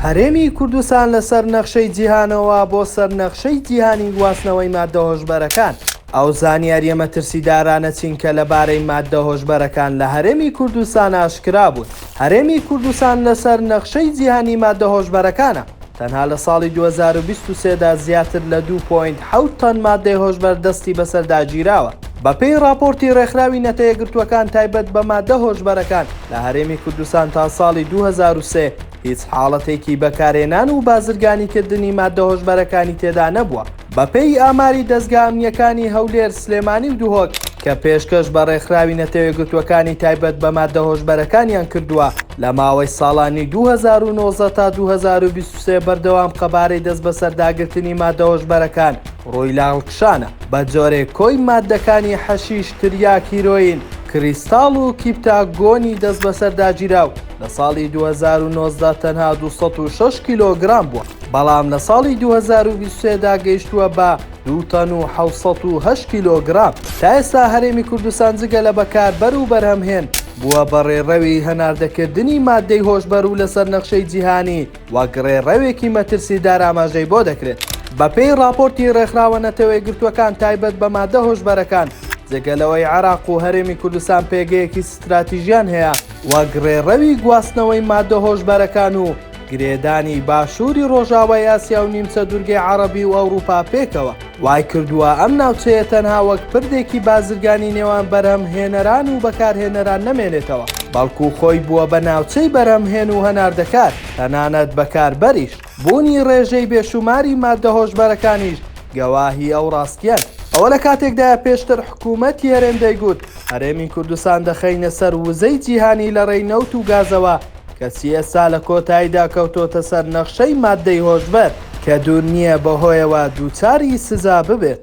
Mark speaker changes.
Speaker 1: هەرێمی کوردستان لە سەر نەخشەی جیهانەوە بۆ سەر نەخشەی جیهانی گواستنەوەی ماددە هۆشبەرەکان، ئەو زانیارییە مەترسیدارانە چین کە لەبارەی ماددە هۆشبەرەکان لە هەرێمی کوردستان ئاشکرا بوون؟ هەرێمی کوردستان لە سەر نەخشەی جیهانی ماددە هۆشبەرەکانە، تەنها لە ساڵی دوو هەزار و بیست و سێ دا زیاتر لە دوو پۆینت حەوت تەن ماددەی هۆشبەر دەستی بەسەردا گیراوە، بەپێی ڕاپۆرتی ڕێکخراوی نەتەیەگرتووەکان تایبەت بە ماددە هۆشبەرەکان لە هەرێمی کوردستان تا ساڵی دوو هەزار و سێ هیچ حاڵەتێکی بەکارهێنان و بازرگانیکردنی ماددە هۆشبەرەکانی تێدا نەبووە. بەپێی ئاماری دەزگا ئەمنییەکانی هەولێر، سلێمانی و دهۆک کە پێشکەش بە ڕێکخراوی نەتەوەیەکگرتووەکانی تایبەت بە ماددە هۆشبەرەکانیان کردووە، لە ماوەی ساڵانی دوو هەزار و نۆزدە تا دوو هەزار و بیست و سێ بەردەوام قەبارەی دەستبەسەرداگرتنی ماددە هۆشبەرەکان، ڕویلاند کشانە بە جۆرێک کۆی ماددەکانی حەشیش، تریاک، هیرۆیین، کریستاڵ و کیپتا گۆنی دەستبەسەرداگیراو لە ساڵی دوو هەزار و نۆزدە تەنها دوو سەد و شەش کیلۆگرام بووە، بەڵام لە ساڵی دوو هەزار و بیست و سێ دا گەیشتووە بە دوو تەن و حەوت سەد و هەشت کیلۆگرام. تا ئێستا هەرێمی کوردستان جگە لە بەکاربەر و بەرهەمهێن، بووە بە ڕێڕەوی هەناردەکردنی ماددەی هۆشبەر و لەسەر نەخشەی جیهانی، وەک ڕێڕەوێکی مەترسیدار ئاماژەی بۆ دەکرێت. بەپێی ڕاپۆرتی ڕێکخراوە نەتەوەیەکگرتووەکان تایبەت بە مادە هۆشبەرەکان، جگە لەوەی عێراق و هەرێمی کوردستان پێگەیەکی ستراتیژیان هەیە وەک ڕێڕەوی گواستنەوەی مادە هۆشبەرەکان و گرێدانی باشووری ڕۆژاوای ئاسیا و نیمچە دوورگەی عەڕەبی و ئەوڕوپا پێکەوە، وای کردووە ئەم ناوچەیە تەنها وەک پردێکی بازرگانی نێوان بەرهەمهێنەران و بەکارهێنەران نەمێنێتەوە، بەڵکو خۆی بووە بە ناوچەی بەرهەمهێن و هەناردەکار، تەنانەت بەکاربەریش. بوونی ڕێژەی بێشووماری ماددە هۆشبەرەکانیش گەواهی ئەو ڕاستییەن. ئەوە لە کاتێکدایە پێشتر حکوومەتی هەرێم دەیگوت، هەرێمی کوردستان دەخەینە سەر وزەی جیهانی لە ڕێی نەوت و گازەوە، کەچی ئێستا لە کۆتاییدا کەوتۆتە سەر نەخشەی ماددەی هۆشبەر، کە دوور نییە بەهۆیەوە دووچاری سزا ببێت.